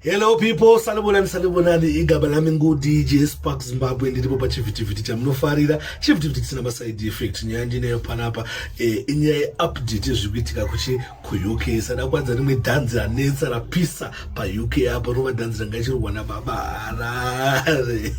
Hello people, salibonani salibonani, igaba lami ngu DJ Spark Zimbabwe ndiripo pa chivhitivhiti chamunofarira. Chivhitivhiti chisina ma side effect, nyaya ndineyo panapa eh, inyaya ye update yezviri kuitika kuchi ku UK. Sada kwanza rimwe dhanzi ranetsa rapisa pa UK apo rova dhanzi ranga ichirwa na baba Harare.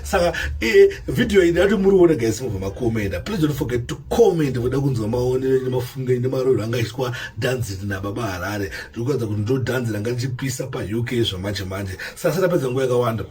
saka eh, video iyi ndati muriona guys mubva makomenda please don't forget to comment voda kunzwa maonero nemafungo nemaroro anga achiitwa dhanzi nababa harare ndiri kuratidza kuti ndo dhanzi ranga richipisa pauk zvamanje manje sasa tapedza nguva yakawanda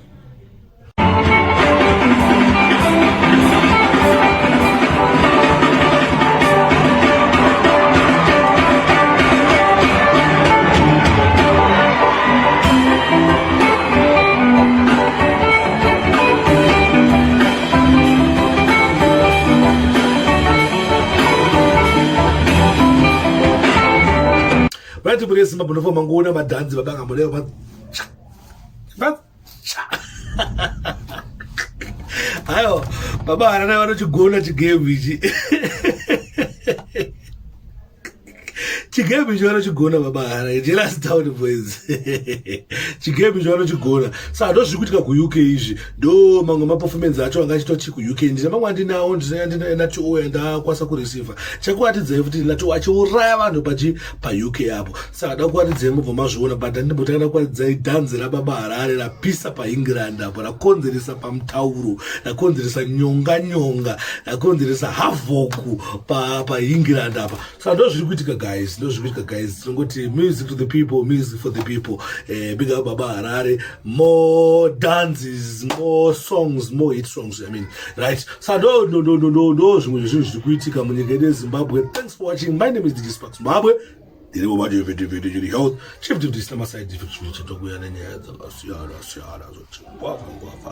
vati mune simba munova mangoona madhanzi vabanga mune hayo baba harana vanochigona chigame ichi chigebi cho vanochigona babahara jelas town boys chigebi cho vanochigona sa ndo zviri kuitika kuuk izvi ndo mamwe maperformance acho anga achitochi kuuk ndine mamwe andinawo ndinanatio yandakwasa kureceiva chakuatidzai futi nato achiuraya vanhu pachi pauk apo saka dakuwaridzai mubva mazviona but andimbotaga dakuwaridzai dhanzi rababa harare rapisa paengland apo rakonzeresa pamutauro rakonzeresa nyonga nyonga rakonzeresa havoku paengland apa saka ndo zviri kuitika guys ndo zviri kuitika guys tinongoti music to the people music for the people eh, big up baba harare more dances more songs more hit songs i mean right saka ndo ndo ndo ndo ndo zvimwe zvezvinhu zviri kuitika munyika yedu yezimbabwe thanks for watching my name is dj spark zimbabwe Ndirivo manje vhete vhete chiri health chief to this nama side effects kuti chatokuya nenyaya dzakasiyana siyana zoti ngwava ngwava